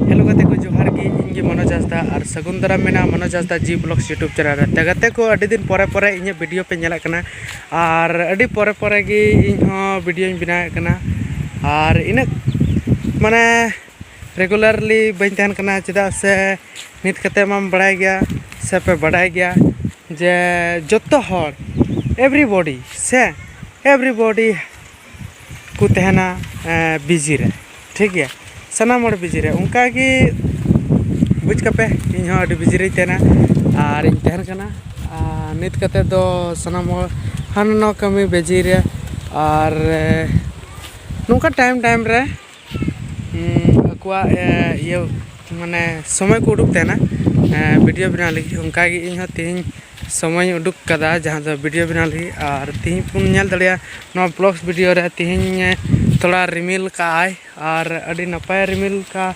hello ᱜᱟᱛᱮ ᱠᱚ ᱡᱚᱦᱟᱨ ᱜᱮ ᱤᱧ ᱜᱮ ᱢᱚᱱᱳᱡᱽ ᱦᱟᱸᱥᱫᱟ ᱟᱨ ᱥᱟᱹᱜᱩᱱ ᱫᱟᱨᱟᱢ ᱢᱮᱱᱟᱜᱼᱟ Manoj Hansda ji blogs YouTube channel ᱨᱮ ᱛᱚ ᱜᱟᱛᱮ ᱠᱚ ᱟᱹᱰᱤ ᱫᱤᱱ ᱯᱚᱨᱮ ᱯᱚᱨᱮ ᱤᱧᱟᱹᱜ ᱵᱷᱤᱰᱤᱭᱳ ᱯᱮ ᱧᱮᱞᱮᱫ ᱠᱟᱱᱟ ᱟᱨ ᱟᱹᱰᱤ ᱯᱚᱨᱮ ᱯᱚᱨᱮ ᱜᱮ ᱤᱧ ᱦᱚᱸ ᱵᱷᱤᱰᱤᱭᱳᱧ ᱵᱮᱱᱟᱣᱮᱫ ᱠᱟᱱᱟ ᱟᱨ ᱤᱱᱟᱹᱜ ᱢᱟᱱᱮ ᱨᱮᱜᱩᱞᱟᱨᱞᱤ ᱵᱟᱹᱧ ᱛᱟᱦᱮᱱ ᱠᱟᱱᱟ ᱪᱮᱫᱟᱜ ᱥᱮ ᱱᱤᱛ ᱠᱟᱛᱮᱫ ᱢᱟᱢ ᱵᱟᱲᱟᱭ ᱜᱮᱭᱟ ᱥᱮ ᱯᱮ ᱵᱟᱰᱟᱭ ᱜᱮᱭᱟ ᱡᱮ ᱡᱚᱛᱚ ᱦᱚᱲ ᱮᱵᱷᱨᱤᱵᱚᱰᱤ ᱥᱮ ᱮᱵᱷᱨᱤᱵᱚᱰᱤ ᱠᱚ ᱛᱟᱦᱮᱱᱟ ᱵᱤᱡᱤ ᱨᱮ ᱴᱷᱤᱠ ᱜᱮᱭᱟ ᱥᱟᱱᱟᱢ ᱦᱚᱲ ᱵᱤᱡᱤ ᱨᱮ ᱚᱱᱠᱟ ᱜᱮ ᱵᱩᱡᱽ ᱠᱟᱯᱮ ᱤᱧ ᱦᱚᱸ ᱟᱹᱰᱤ ᱵᱤᱡᱤ ᱨᱮᱧ ᱛᱟᱦᱮᱱᱟ ᱟᱨ ᱤᱧ ᱛᱟᱦᱮᱱ ᱠᱟᱱᱟ ᱟᱨ ᱱᱤᱛ ᱠᱟᱛᱮ ᱫᱚ ᱥᱟᱱᱟᱢ ᱦᱚᱲ ᱦᱟᱱᱟ ᱱᱚᱣᱟ ᱠᱟᱹᱢᱤ ᱵᱤᱡᱤ ᱨᱮ ᱟᱨ ᱱᱚᱝᱠᱟ ᱴᱟᱭᱤᱢ ᱴᱟᱭᱤᱢ ᱨᱮ ᱟᱠᱚᱣᱟᱜ ᱤᱭᱟᱹ ᱢᱟᱱᱮ ᱥᱚᱢᱚᱭ ᱠᱚ ᱩᱰᱩᱠ ᱛᱟᱦᱮᱱᱟ ᱵᱷᱤᱰᱭᱳ ᱵᱮᱱᱟᱣ ᱞᱟᱹᱜᱤᱫ ᱚᱱᱠᱟᱜᱮ ᱤᱧ ᱦᱚᱸ ᱛᱮᱦᱮᱧ ᱥᱚᱢᱚᱭᱤᱧ ᱩᱰᱩᱠ ᱠᱟᱫᱟ ᱡᱟᱦᱟᱸ ᱫᱚ ᱵᱷᱤᱰᱭᱳ ᱵᱮᱱᱟᱣ ᱞᱟᱹᱜᱤᱫ ᱟᱨ ᱛᱮᱦᱮᱧ ᱵᱚᱱ ᱧᱮᱞ ᱫᱟᱲᱮᱭᱟᱜᱼᱟ ᱱᱚᱣᱟ ᱵᱞᱚᱜᱽ ᱵᱷᱤᱰᱭᱳ ᱨᱮ ᱛᱮᱦᱮᱧ ᱛᱷᱚᱲᱟ ᱨᱤᱢᱤᱞ ᱠᱟᱜᱼᱟᱭ ᱟᱨ ᱟᱹᱰᱤ ᱱᱟᱯᱟᱭ ᱨᱤᱢᱤᱞ ᱠᱟᱜᱼᱟ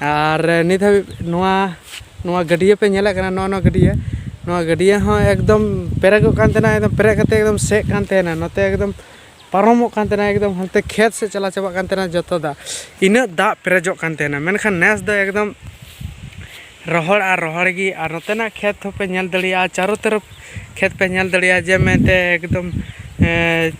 ᱟᱨ ᱱᱤᱛ ᱦᱟᱹᱵᱤᱡ ᱱᱚᱣᱟ ᱱᱚᱣᱟ ᱜᱟᱹᱰᱭᱟᱹ ᱯᱮ ᱧᱮᱞᱮᱫ ᱠᱟᱱᱟ ᱱᱚᱜᱼᱚ ᱱᱚᱣᱟ ᱜᱟᱹᱰᱭᱟᱹ ᱱᱚᱣᱟ ᱜᱟᱹᱰᱭᱟᱹ ᱦᱚᱸ ᱮᱠᱫᱚᱢ ᱯᱮᱨᱮᱡᱚᱜ ᱠᱟᱱ ᱛᱟᱦᱮᱱᱟ ᱮᱠᱫᱚᱢ ᱯᱮᱨᱮᱡ ᱠᱟᱛᱮᱫ ᱮᱠᱫᱚᱢ ᱥᱮᱜ ᱠᱟᱱ ᱛᱟᱦᱮᱱᱟ ᱱᱚᱛᱮ ᱮᱠᱫᱚᱢ ᱯᱟᱨᱚᱢᱚᱜ ᱠᱟᱱ ᱛᱟᱦᱮᱱᱟ ᱮᱠᱫᱚᱢ ᱦᱟᱱᱛᱮ ᱠᱷᱮᱛ ᱥᱮᱫ ᱪᱟᱞᱟᱣ ᱪᱟᱵᱟᱜ ᱠᱟᱱ ᱛᱟᱦᱮᱱᱟ ᱡᱚᱛᱚ ᱫᱟᱜ ᱤᱱᱟᱹᱜ ᱫᱟᱜ ᱯᱮᱨᱮᱡᱚᱜ ᱠᱟᱱ ᱛᱟᱦᱮᱱᱟ ᱢᱮᱱᱠᱷᱟᱱ ᱱᱮᱥ ᱫᱚ ᱮᱠᱫᱚᱢ ᱨᱚᱦᱚᱲ ᱟᱨ ᱨᱚᱦᱚᱲ ᱜᱮ ᱟᱨ ᱱᱚᱛᱮᱱᱟᱜ ᱠᱷᱮᱛ ᱦᱚᱸᱯᱮ ᱧᱮᱞ ᱫᱟᱲᱮᱭᱟᱜᱼᱟ ᱪᱟᱨᱳ ᱛᱚᱨᱚᱯᱷ ᱠᱷᱮᱛ ᱯᱮ ᱧᱮᱞ ᱫᱟᱲᱮᱭᱟᱜᱼᱟ ᱡᱮ ᱢᱮᱱᱛᱮ ᱮᱠᱫᱚᱢ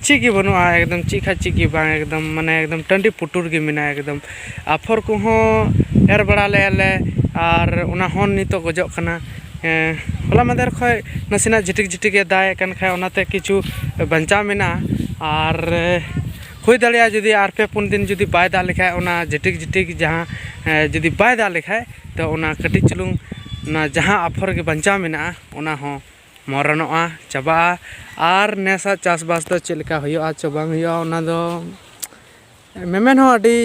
ᱪᱮᱫ ᱜᱮ ᱵᱟᱹᱱᱩᱜᱼᱟ ᱮᱠᱫᱚᱢ ᱪᱮᱫ ᱠᱷᱟᱱ ᱪᱮᱫ ᱜᱮ ᱵᱟᱝ ᱮᱠᱫᱚᱢ ᱢᱟᱱᱮ ᱮᱠᱫᱚᱢ ᱴᱟᱺᱰᱤ ᱯᱩᱴᱩᱨ ᱜᱮ ᱢᱮᱱᱟᱜᱼᱟ ᱮᱠᱫᱚᱢ ᱟᱯᱷᱚᱨ ᱠᱚᱦᱚᱸ ᱮᱨ ᱵᱟᱲᱟ ᱞᱮᱫᱼᱟ ᱞᱮ ᱟᱨ ᱚᱱᱟ ᱦᱚᱸ ᱱᱤᱛᱚᱜ ᱜᱚᱡᱚᱜ ᱠᱟᱱᱟ ᱦᱚᱞᱟ ᱢᱟᱦᱫᱮᱨ ᱠᱷᱚᱱ ᱱᱟᱥᱮᱱᱟᱜ ᱡᱷᱤᱴᱤᱠ ᱡᱷᱤᱴᱤᱠ ᱮ ᱫᱟᱜ ᱮᱫ ᱠᱟᱱ ᱠᱷᱟᱱ ᱚᱱᱟᱛᱮ ᱠᱤᱪᱷᱩ ᱵᱟᱧᱪᱟᱣ ᱢᱮᱱᱟᱜᱼᱟ ᱟᱨ ᱦᱩᱭ ᱫᱟᱲᱮᱭᱟᱜᱼᱟ ᱡᱩᱫᱤ ᱟᱨ ᱯᱮ ᱯᱩᱱ ᱫᱤᱱ ᱡᱩᱫᱤ ᱵᱟᱭ ᱫᱟᱜ ᱞᱮᱠᱷᱟᱱ ᱚᱱᱟ ᱡᱷᱤᱴᱤᱠ ᱡᱷᱤᱴᱤᱠ ᱡᱟᱦᱟᱸ ᱡᱩᱫᱤ ᱵᱟᱭ ᱫᱟᱜ ᱞᱮᱠᱷᱟᱱ ᱛᱚ ᱚᱱᱟ ᱠᱟᱹᱴᱤᱡ ᱪᱩᱞᱩᱝ ᱚᱱᱟ ᱡᱟᱦᱟᱸ ᱟᱯᱷᱚᱨ ᱜᱮ ᱵᱟᱧᱪᱟᱣ ᱢᱮᱱᱟᱜᱼᱟ ᱚᱱᱟ ᱦᱚᱸ ᱢᱚᱨᱚᱱᱚᱜᱼᱟ ᱪᱟᱵᱟᱜᱼᱟ ᱟᱨ ᱱᱮᱥᱟᱜ ᱪᱟᱥᱵᱟᱥ ᱫᱚ ᱪᱮᱫ ᱞᱮᱠᱟ ᱦᱩᱭᱩᱜᱼᱟ ᱪᱮ ᱵᱟᱝ ᱦᱩᱭᱩᱜᱼᱟ ᱚᱱᱟ ᱫᱚ ᱢᱮᱢᱮᱱ ᱦᱚᱸ ᱟᱹᱰᱤ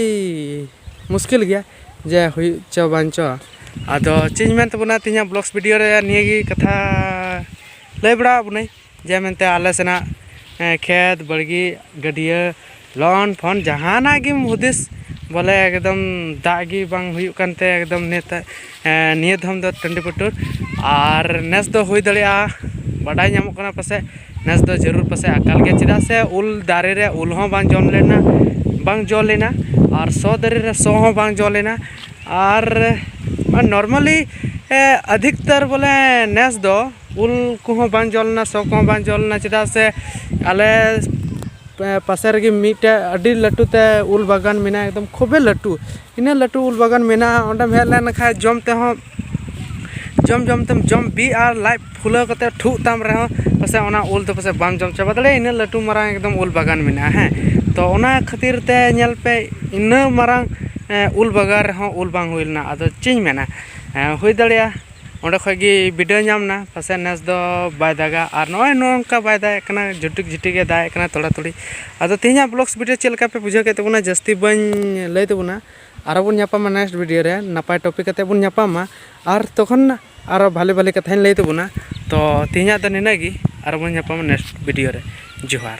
ᱢᱩᱥᱠᱤᱞ ᱜᱮᱭᱟ ᱡᱮ ᱦᱩᱭᱩᱜ ᱪᱚ ᱵᱟᱝ ᱪᱚ ᱟᱫᱚ ᱪᱮᱫ ᱤᱧ ᱢᱮᱱ ᱛᱟᱵᱚᱱᱟ ᱛᱮᱦᱮᱧᱟᱜ ᱵᱞᱚᱜᱽᱥ ᱵᱷᱤᱰᱭᱳ ᱨᱮ ᱱᱤᱭᱟᱹ ᱜᱮ ᱠᱟᱛᱷᱟ ᱞᱟᱹᱭ ᱵᱟᱲᱟᱣᱟᱜ ᱵᱚᱱᱟᱹᱧ ᱡᱮ ᱢᱮᱱᱛᱮ ᱟᱞᱮ ᱥᱮᱱᱟᱜ ᱠᱷᱮᱛ ᱵᱟᱲᱜᱮ ᱜᱟᱹᱰᱭᱟᱹ ᱞᱚᱱ ᱯᱷᱚᱱ ᱡᱟᱦᱟᱱᱟᱜ ᱜᱮᱢ ᱦᱩᱫᱤᱥ ᱵᱚᱞᱮ ᱮᱠᱫᱚᱢ ᱫᱟᱜ ᱜᱮ ᱵᱟᱝ ᱦᱩᱭᱩᱜ ᱠᱟᱱ ᱛᱮ ᱮᱠᱫᱚᱢ ᱱᱤᱛᱚᱜ ᱱᱤᱭᱟᱹ ᱫᱷᱚᱢ ᱫᱚ ᱴᱟᱺᱰᱤ ᱯᱩᱴᱩᱨ ᱟᱨ ᱱᱮᱥ ᱫᱚ ᱦᱩᱭ ᱫᱟᱲᱮᱭᱟᱜᱼᱟ ᱵᱟᱰᱟᱭ ᱧᱟᱢᱚᱜ ᱠᱟᱱᱟ ᱯᱟᱥᱮᱡ ᱱᱮᱥ ᱫᱚ ᱡᱟᱹᱨᱩᱲ ᱯᱟᱥᱮᱡ ᱟᱠᱟᱞ ᱜᱮᱭᱟ ᱪᱮᱫᱟᱜ ᱥᱮ ᱩᱞ ᱫᱟᱨᱮ ᱨᱮ ᱩᱞ ᱦᱚᱸ ᱵᱟᱝ ᱡᱚᱢ ᱞᱮᱱᱟ ᱵᱟᱝ ᱡᱚ ᱞᱮᱱᱟ ᱟᱨ ᱥᱚ ᱫᱟᱨᱮ ᱨᱮ ᱥᱚ ᱦᱚᱸ ᱵᱟᱝ ᱡᱚ ᱞᱮᱱᱟ ᱟᱨ ᱱᱚᱨᱢᱟᱞᱤ ᱟᱹᱫᱷᱤᱠᱛᱟᱨ ᱵᱚᱞᱮ ᱱᱮᱥ ᱫᱚ ᱩᱞ ᱠᱚᱦᱚᱸ ᱵᱟᱝ ᱡᱚ ᱞᱮᱱᱟ ᱥᱚ ᱠᱚᱦᱚᱸ ᱵᱟᱝ ᱡᱚ ᱞᱮᱱᱟ ᱪᱮᱫᱟᱜ ᱥᱮ ᱟᱞᱮ ᱯᱟᱥᱮ ᱨᱮᱜᱮ ᱢᱤᱫᱴᱮᱡ ᱟᱹᱰᱤ ᱞᱟᱹᱴᱩ ᱛᱮ ᱩᱞ ᱵᱟᱜᱟᱱ ᱢᱮᱱᱟᱜᱼᱟ ᱮᱠᱫᱚᱢ ᱠᱷᱩᱵᱮ ᱞᱟᱹᱴᱩ ᱤᱱᱟᱹᱜ ᱞᱟᱹᱴᱩ ᱩᱞ ᱵᱟᱜᱟᱱ ᱢᱮᱱᱟᱜᱼᱟ ᱚᱸᱰᱮᱢ ᱦᱮᱡ ᱞᱮᱱᱠᱷᱟᱡ ᱡᱚᱢ ᱛᱮᱦᱚᱸ ᱡᱚᱢ ᱡᱚᱢ ᱛᱮᱢ ᱡᱚᱢ ᱵᱤ ᱟᱨ ᱞᱟᱡ ᱯᱷᱩᱞᱟᱹᱣ ᱠᱟᱛᱮ ᱴᱷᱩᱜ ᱛᱟᱢ ᱨᱮᱦᱚᱸ ᱯᱟᱥᱮᱡ ᱚᱱᱟ ᱩᱞ ᱫᱚ ᱯᱟᱥᱮᱡ ᱵᱟᱢ ᱡᱚᱢ ᱪᱟᱵᱟ ᱫᱟᱲᱮᱭᱟᱜᱼᱟ ᱤᱱᱟᱹᱜ ᱞᱟᱹᱴᱩ ᱢᱟᱨᱟᱝ ᱮᱠᱫᱚᱢ ᱩᱞ ᱵᱟᱜᱟᱱ ᱢᱮᱱᱟᱜᱼᱟ ᱦᱮᱸ ᱛᱚ ᱚᱱᱟ ᱠᱷᱟᱹᱛᱤᱨ ᱛᱮ ᱧᱮᱞ ᱯᱮ ᱤᱱᱟᱹᱜ ᱢᱟᱨᱟᱝ ᱩᱞ ᱵᱟᱜᱟᱱ ᱨᱮᱦᱚᱸ ᱩᱞ ᱵᱟᱝ ᱦᱩᱭ ᱞᱮᱱᱟ ᱟᱫᱚ ᱪᱮᱫ ᱤᱧ ᱢᱮᱱᱟ ᱦᱩᱭ ᱫᱟᱲᱮᱭᱟᱜᱼᱟ ᱚᱸᱰᱮ ᱠᱷᱚᱡ ᱜᱮ ᱵᱤᱰᱟᱹᱣ ᱧᱟᱢ ᱮᱱᱟ ᱯᱟᱥᱮᱡ ᱱᱮᱥ ᱫᱚ ᱵᱟᱭ ᱫᱟᱜᱟ ᱟᱨ ᱱᱚᱜᱼᱚᱭ ᱱᱚᱝᱠᱟ ᱵᱟᱭ ᱫᱟᱜ ᱮᱫ ᱠᱟᱱᱟ ᱡᱷᱤᱴᱤᱠ ᱡᱷᱤᱴᱤᱠᱮ ᱫᱟᱜ ᱮᱫ ᱠᱟᱱᱟ ᱛᱷᱚᱲᱟ ᱛᱷᱩᱲᱤ ᱟᱫᱚ ᱛᱮᱦᱮᱧᱟᱜ ᱵᱞᱚᱜᱽᱥ ᱵᱷᱤᱰᱭᱳ ᱪᱮᱫ ᱞᱮᱠᱟ ᱯᱮ ᱵᱩᱡᱷᱟᱹᱣ ᱠᱮᱫ ᱛᱟᱵᱚᱱᱟ ᱡᱟᱹᱥᱛᱤ ᱵᱟᱹᱧ ᱞᱟᱹᱭ ᱛᱟᱵᱚᱱᱟ ᱟᱨᱚ ᱵᱚᱱ ᱧᱟᱯᱟᱢᱟ ᱱᱮᱠᱥᱴ ᱵᱷᱤᱰᱭᱳ ᱨᱮ ᱱᱟᱯᱟᱭ ᱴᱚᱯᱤᱠ ᱟᱛᱮᱫ ᱵᱚᱱ ᱧᱟᱯᱟᱢᱟ ᱟᱨ ᱛᱚᱠᱷᱚᱱ ᱟᱨᱚ ᱵᱷᱟᱞᱮ ᱵᱷᱟᱞᱮ ᱠᱟᱛᱷᱟᱧ ᱞᱟᱹᱭ ᱛᱟᱵᱚᱱᱟ ᱛᱚ ᱛᱮᱦᱮᱧᱟᱜ ᱫᱚ ᱱᱤᱱᱟᱹᱜ ᱜᱮ ᱟᱨᱚ ᱵᱚᱱ ᱧᱟᱯᱟᱢᱟ ᱱᱮᱠᱥᱴ ᱵᱷᱤᱰᱭᱳ ᱨᱮ ᱡᱚᱦᱟᱨ